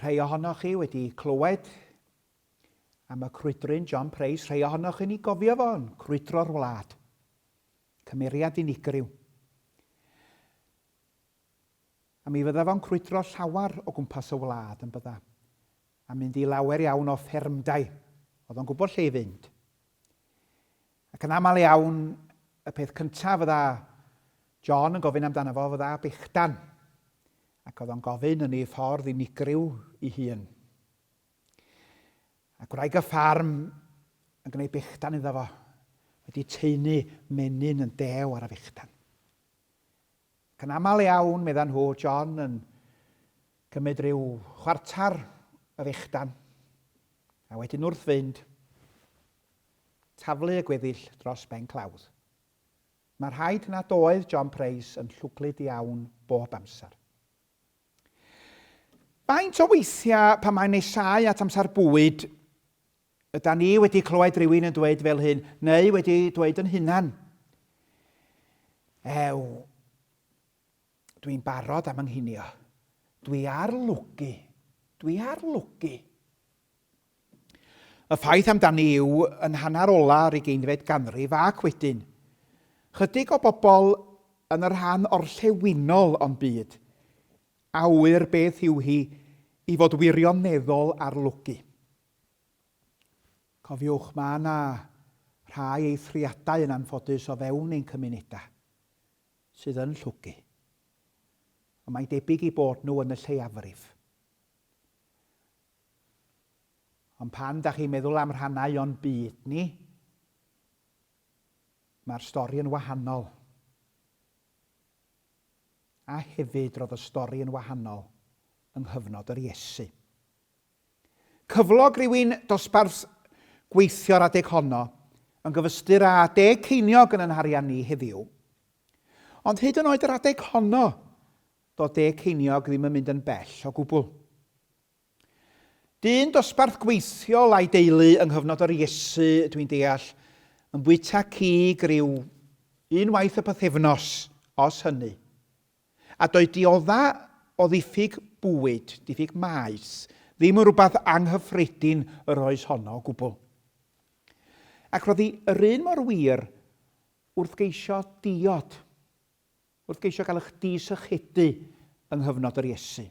Rhai ohonoch chi wedi clywed am y crwydryn John Price, rhai ohonoch chi'n ei gofio fo'n crwydro'r wlad. Cymeriad unigryw. A mi fydda fo'n crwydro llawer o gwmpas y wlad yn bydda, a mynd i lawer iawn o ffermdau. Oedd o'n gwybod lle i fynd. Ac yn aml iawn, y peth cyntaf fydda John yn gofyn amdano fo fydda bechdan, ac oedd o'n gofyn yn ei ffordd unigryw i hun. A gwraig y ffarm yn gwneud bechdan iddo fo, wedi taenu menyn yn dew ar y fechdan. Ac yn aml iawn, medda nhw, John yn cymryd rhyw chwartar y fechdan, a wedyn wrth fynd, taflu y gweddill dros ben clawdd. Mae'n rhaid nad oedd John Price yn llwglyd iawn bob amser. Faint o weithiau pan mae'n nesáu at amser bwyd, yda ni wedi clywed rhywun yn dweud fel hyn, neu wedi dweud yn hunan, Ew, dwi'n barod am ynghinio. Dwi ar lwgu. Dwi ar lwgu. Y ffaith amdani yw, yn hanner ola yr ugeinfed ganrif ac wedyn, chydig o bobl yn y rhan orllewinol o'n byd a ŵyr beth yw hi i fod wirioneddol arlogi. Cofiwch, mae yna rhai eithriadau yn anffodus o fewn ein cymunedau sydd yn llwgu, ond mae'n debyg i bod nhw yn y lleiafrif. Ond pan da chi'n meddwl am rhannau o'n byd ni, mae'r stori yn wahanol. A hefyd roedd y stori yn wahanol yng nghyfnod yr Iesu. Cyflog rhywun dosbarth gweithio'r adeg honno yn gyfystyr â deg ceiniog yn yn harian ni heddiw. Ond hyd yn oed yr adeg honno, do deg ceiniog ddim yn mynd yn bell o gwbl. Dyn dosbarth gweithiol a'i deulu yng nghyfnod yr Iesu, dwi'n deall, yn bwyta cig ryw unwaith y pythefnos, os hynny. A doedd diodda' o ddiffyg bwyd, diffyg maes, ddim yn rhywbeth anghyffredin yr oes honno o gwbl. Ac roedd hi yr un mor wir wrth geisio diod, wrth geisio gael eich di-sychedu yng nghyfnod yr Iesu.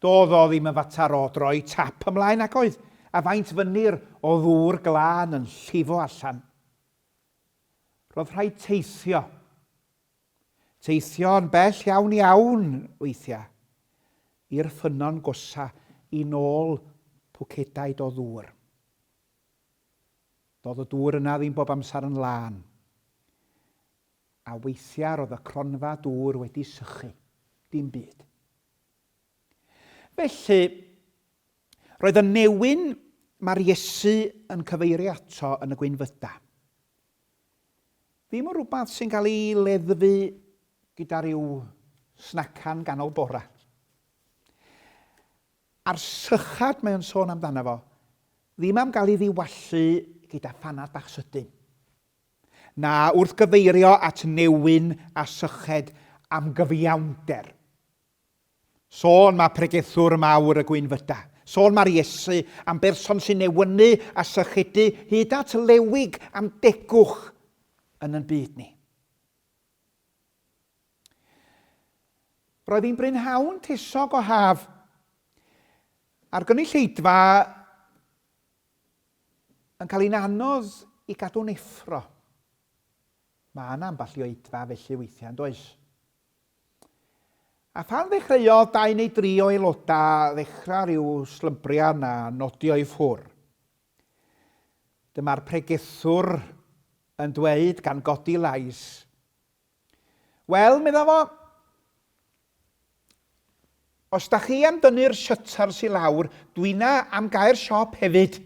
Doedd o ddim yn fater o droi tap ymlaen nag oedd, a faint fynyr o ddŵr glân yn llifo allan. Roedd rhaid teithio. Teithio'n bell iawn iawn, weithiau, i'r ffynnon gosa i nôl pwcedaid o ddŵr. Doedd y dŵr yna ddim bob amser yn lân. A weithiau roedd y cronfa dŵr wedi sychu. Dim byd. Felly, roedd y newyn mae'r Iesu yn cyfeirio ato yn y gwynfyda. Ddim yn rhywbeth sy'n cael ei leddfu gyda rhyw snacan ganol bora. A'r sychad mae'n sôn amdano fo, ddim am gael ei ddiwallu gyda phanad bach sydyn. na wrth gyfeirio at newyn a syched am gyfiawnder. Sôn mae pregethwr mawr y gwynfyda. Sôn mae'r Iesu am berson sy'n newynu a sychedu hyd at lewig am degwch yn yn byd ni. Roedd hi'n brynhawn tesog o haf. A'r gynulleidfa Yn cael hi'n anodd i gadw'n effro. Mae yna ambell i oedfa felly weithiau, yn does? A phan ddechreuodd dau neu dri o aelodau ddechrau rhyw slymbriau na nodio i ffwr. Dyma'r pregethwr yn dweud gan godi lais, Wel, medda fo, os da chi am dynnu'r shutters i lawr, dwina am gae'r siop hefyd.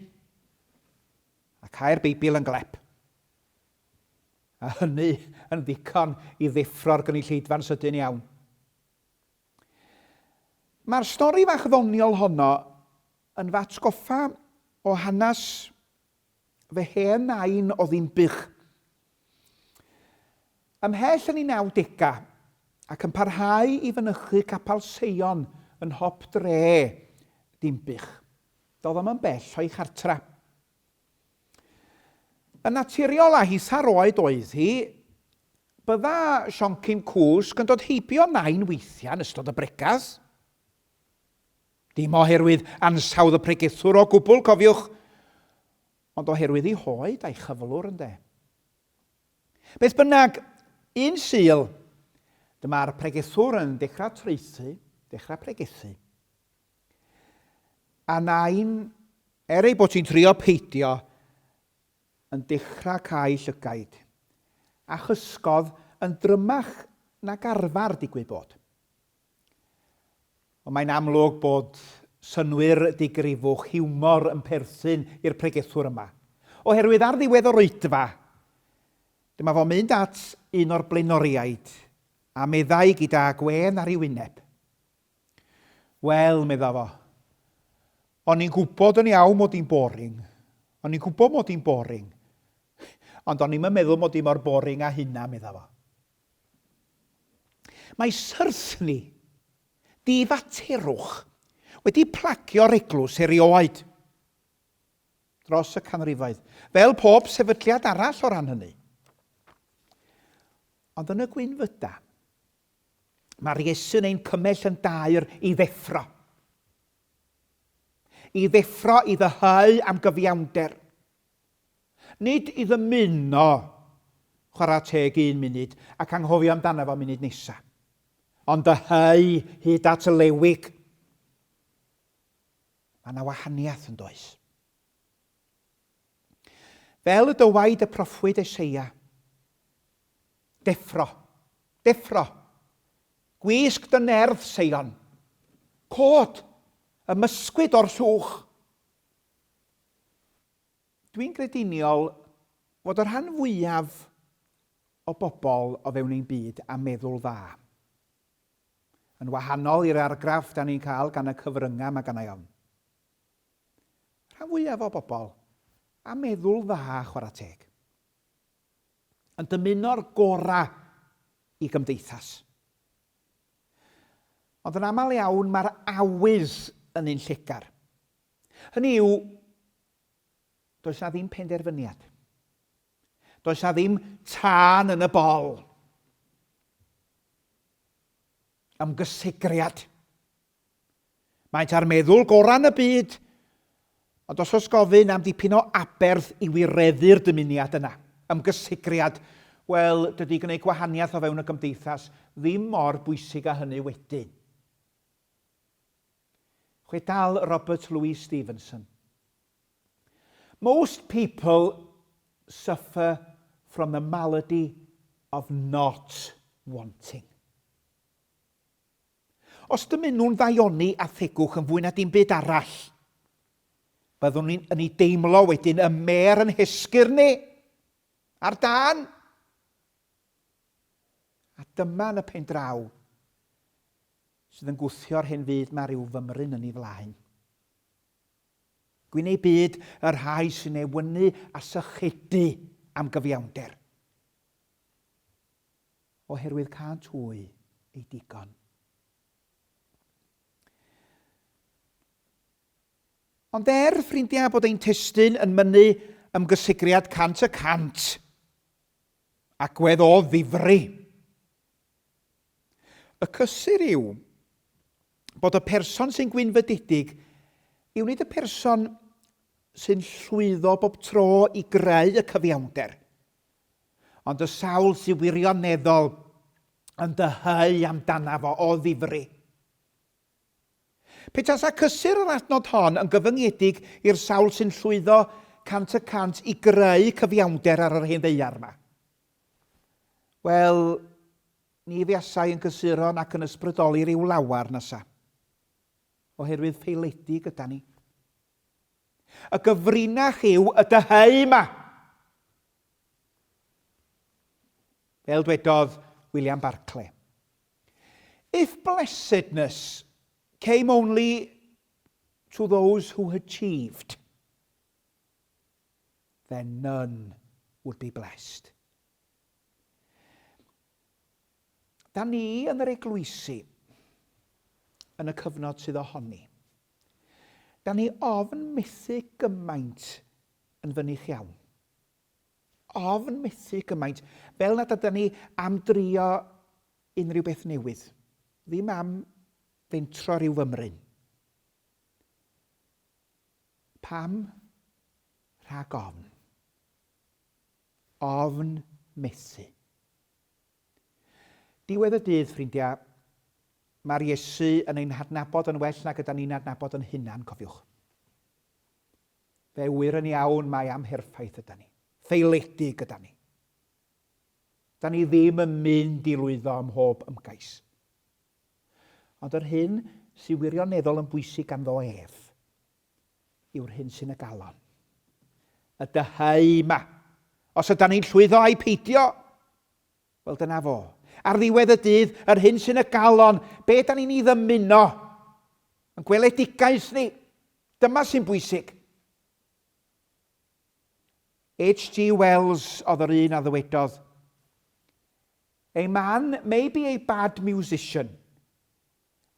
A cae'r Beibl yn glep. A hynny yn ddigon i ddeffro'r gynulleidfa'n sydyn iawn. Mae'r stori fach ddoniol honno yn f'atgoffa o hanes Fy hen nain oedd un bych. Ymhell yn ei nawdegau, ac yn parhau i fynychu Capal Seion yn nhop dre Dinbych. Doedd o'm yn bell o'i chartra'. Yn naturiol a hisa'r oed oedd hi, bydda Sioncyn Cwsg yn dod heibio nain weithiau yn ystod y bregeth. Dim oherwydd ansawdd y pregethwr o gwbl, cofiwch, ond oherwydd ei hoed a'i chyflwr, ynde. Beth bynnag, un Sul, dyma'r pregethwr yn dechrau traethu, dechrau pregethu. A nain, er ei bod hi'n trio peidio, yn dechrau cael llygaid, a chysgodd yn drymach nag arfer digwydd bod. Ond mae'n amlwg bod synnwyr digrifwch hiwmor yn perthyn i'r pregethwr yma, oherwydd ar ddiwedd yr oedfa, dyma fo'n mynd at un o'r blaenoriaid a meddai gyda gwên ar ei wyneb. Wel, medda fo, o'n i'n gwybod yn iawn mod i'n boring, o'n i'n gwybod mod i'n boring, ond o'n i'm yn meddwl mod i mor boring â hynna, medda fo. Mae syrthni di-faterwch wedi plagio'r eglwys erioed dros y canrifoedd, fel pob sefydliad arall o ran hynny. Ond yn y gwynfyda, mae'r Iesu'n ein cymell yn daer i ddeffro. I ddeffro i ddyhau am gyfiawnder. Nid i ddymuno chwarae teg un munud ac anghofio amdano fo munud nesa. Ond dyheu hyd at y lewig. Mae yna wahaniaeth yn does. Fel y dywaid y proffwyd Eseia, Deffro, deffro, gwisg dy nerth, Seion, cod, ymysgwyd o'r llwch. Dwi'n grediniol fod y rhan fwyaf o bobl o fewn ein byd â meddwl dda. Yn wahanol i'r argraff da ni'n cael gan y cyfryngau mae gennai ofn. Rhan fwyaf o bobl â meddwl dda chwarae teg. Yn dymuno'r gorau i gymdeithas. Ond yn aml iawn mae'r awydd yn un llegar. Hynny yw, does 'na ddim penderfyniad. Does 'na ddim tân yn y bol. Ymgysegriad. Maent ar meddwl gorau yn y byd, ond os oes gofyn am dipyn o aberth i wireddu'r dymuniad yna, ymgysegriad, wel, dydy gwneud gwahaniaeth o fewn y gymdeithas ddim mor bwysig â hynny wedyn. Chwital Robert Louis Stevenson. Most people suffer from the malady of not wanting. Os dymun nhw'n ddaioni a thegwch yn fwy na dim byd arall, byddwn ni'n yn ei deimlo wedyn y mer yn hesgyr ni ar dan. A dyma yn y pen draw Sydd yn gwthio'r hen fyd 'ma ryw fymryn yn ei flaen. Gwyn ei byd y rhai sy'n ei wynu a sychedu am gyfiawnder. Oherwydd cânt hwy ei digon. Ond er, ffrindiau, bod ein testyn yn mynnu ymgysigriad cant y cant, agwedd o ddifri, Y cysur yw bod y person sy'n gwynfydedig yw nid y person sy'n llwyddo bob tro i greu y cyfiawnder, ond y sawl sy'n wirioneddol yn dyheu amdanaf o o ddifri. Pe tasa cysur yr adnod hon yn gyfyngedig i'r sawl sy'n llwyddo cant y cant i greu cyfiawnder ar yr hen ddeiar yma, Wel, ni fuasai yn gysuron ac yn ysbrydoli ryw lawer, nasa? Oherwydd ffeiledig yda ni. Y gyfrinach yw y dyheu yma. Fel dwedodd William Barclay. If blessedness came only to those who achieved, then none would be blessed. Da ni yn yr eglwysi yn y cyfnod sydd ohoni. Da ni ofn methu gymaint yn fynych iawn. Ofn methu gymaint, fel nad ydyn ni am drio unrhyw beth newydd, ddim am fentro rhyw fymryn. Pam? Rhag ofn. Ofn methu. Diwedd y dydd, ffrindiau, mae'r Iesu yn ein hadnabod yn well nag yda ni'n adnabod yn hunan, cofiwch. Fe wir yn iawn mae amherffaith yda ni, ffeiledig yda ni. Da ni ddim yn mynd i lwyddo ym mhob ymgais. Ond yr hyn sy wirioneddol yn bwysig ganddo ef yw'r hyn sy'n y galon. Y dyheu yma. Os ydan ni'n llwyddo ai peidio, wel dyna fo. Ar ddiwedd y dydd, yr hyn sy'n y galon, be da ni'n ei ddymuno, yn gweledigaeth ni, dyma sy'n bwysig. H.G. Wells oedd yr un a ddywedodd, A man may be a bad musician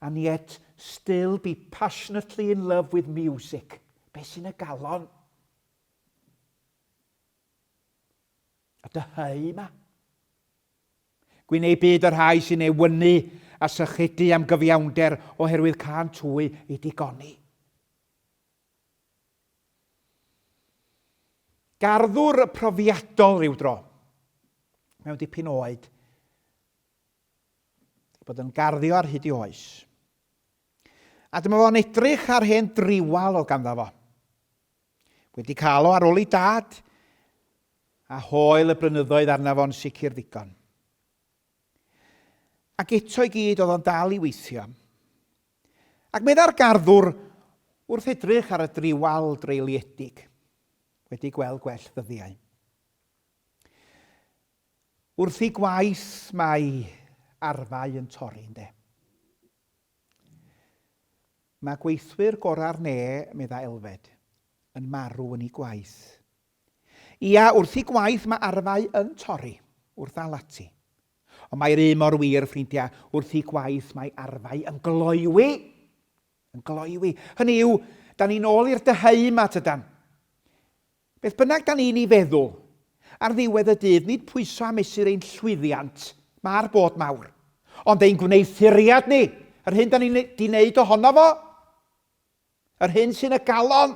and yet still be passionately in love with music. Be sy'n y galon? A dyhau yma. Gwyn ei byd y rhai sy'n ei wynu a sychudu am gyfiawnder oherwydd can twy i digoni. Garddwr profiadol rhyw dro, mewn dipyn o oed, wedi bod yn garddio ar hyd i oes. A dyma fo'n edrych ar hen driwal o ganddo fo. Wedi cael o ar ôl ei dad, a hoel y brynyddoedd arna fo'n sicr ddigon. Ac eto i gyd oedd o'n dal i weithio. Ac meddai'r garddwr, wrth edrych ar y driwal dreuliedig, wedi gweld gwell ddyddiau. Wrth i gwaith mae arfau yn torri, ynde. Mae gweithwyr gorau'r ne, meddai Elfed, yn marw yn ei gwaith. Ia, wrth i gwaith mae arfau yn torri, wrth al ati, Ond mae'r un mor wir, ffrindiau, wrth i gwaith mae arfau yn gloywi. Yn gloywi. Hynny yw, da ni'n ôl i'r dyheu yma, tydan? Beth bynnag da ni'n ei feddwl, ar ddiwedd y dydd, nid pwyso a mesur ein llwyddiant, mae'r bod mawr, ond ein gwneuthuriad ni, yr hyn da ni'n di wneud ohono fo, yr hyn sy'n y galon.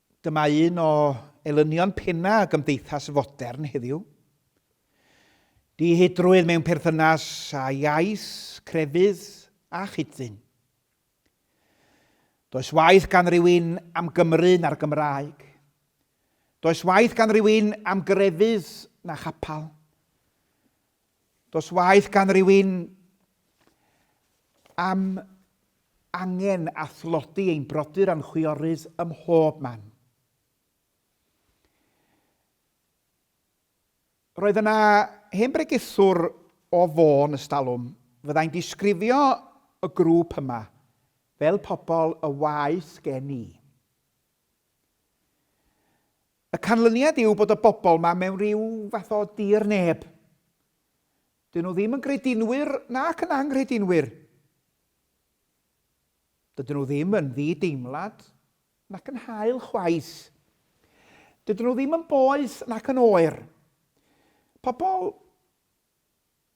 Dyma un o elynion pennau gymdeithas fodern heddiw. Dihedrwydd mewn perthynas â iaith, crefydd a chyd-ddyn. Does waith gan rywun am Gymru na'r Gymraeg. Does waith gan rywun am grefydd na chapel. Does waeth gan rywun am angen a thlodi ein brodyr a'n chwiorydd ym mhob man. Roedd yna hen bregethwr o Fôn ystalwm, fyddai'n disgrifio y grŵp yma fel pobl y waeth gen i. Y canlyniad yw bod y bobl yma mewn rhyw fath o dir neb. Dyn nhw ddim yn gredinwyr nac yn anghredinwyr. Dydyn nhw ddim yn ddi-deimlad nac yn hael chwaith. Dydyn nhw ddim yn boeth nac yn oer. Pobl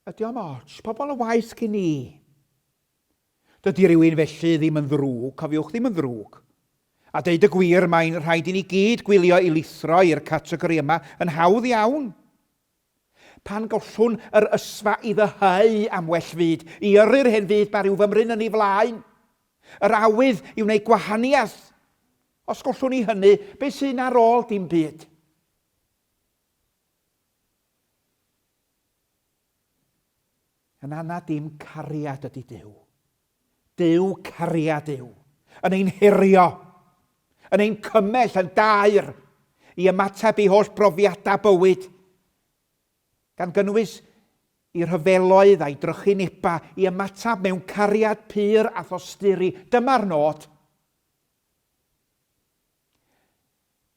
ydy o'm ots, pobl y waith cyn i. Dydy rhywun felly ddim yn ddrwg, cofiwch, ddim yn ddrwg. A deud y gwir, mae'n rhaid i ni gyd gwylio i lithro i'r categori yma yn hawdd iawn. Pan gollwn yr ysfa i ddyheu am well fyd, i yrru'r hen fyd ma rhyw fymryn yn ei flaen. Yr awydd i wneud gwahaniaeth. Os gollwn ni hynny, beth sy'n ar ôl? Dim byd. Yn anad dim cariad ydy Duw. Duw cariad yw, yn ein herio, yn ein cymell yn daer i ymateb i holl brofiadau bywyd, gan gynnwys i rhyfeloedd a'i drychinebau, i ymateb mewn cariad pur a thosturi. Dyma'r nod.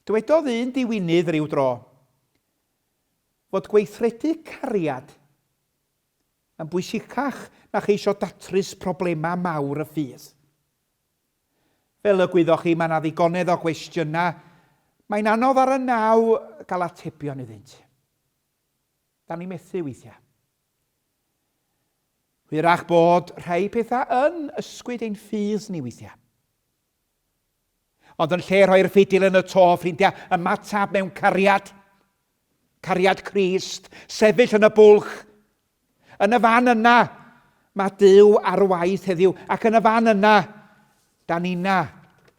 Dywedodd un diwinydd ryw dro fod gweithredu cariad yn bwysicach na cheisio datrys problemau mawr y ffydd. Fel y gwyddoch chi, mae yna ddigonedd o gwestiynau mae'n anodd ar y naw gael atebion iddynt. Da ni methu weithiau. Hwyrach bod rhai pethau yn ysgwyd ein ffydd ni weithiau. Ond yn lle rhoi'r ffidil yn y to, ffrindiau, ymateb mewn cariad. Cariad Crist, sefyll yn y bwlch. Yn y fan yna, mae Dyw ar waith heddiw, ac yn y fan yna, da ni'na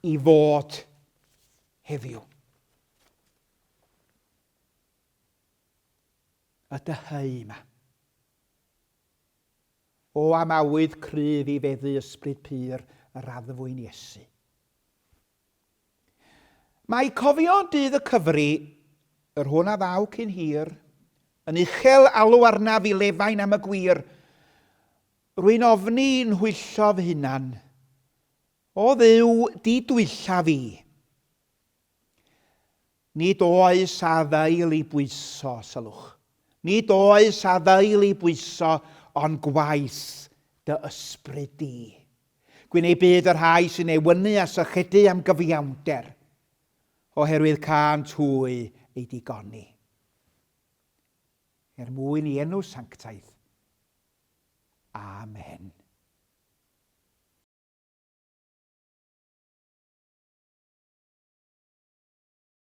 i fod heddiw. Y dyheu yma. O amawyd cryf i feddu ysbryd pur yr addfwyn Iesu. Mae cofio dydd y cyfri, yr hwn a ddaw cyn hir, yn uchel alw arnaf i lefain am y gwir. Rwy'n ofni i'n nhwyllo fy hunan. O dduw, di dwylla fi. Nid oes afael i bwyso, sylwch, nid oes afael i bwyso, ond gwaith dy ysbryd di. Gwyn ei byd y rhai sy'n ewynu a sychedu am gyfiawnder, oherwydd cânt hwy ei digoni. Er mwyn i enw sanctaidd. Amen.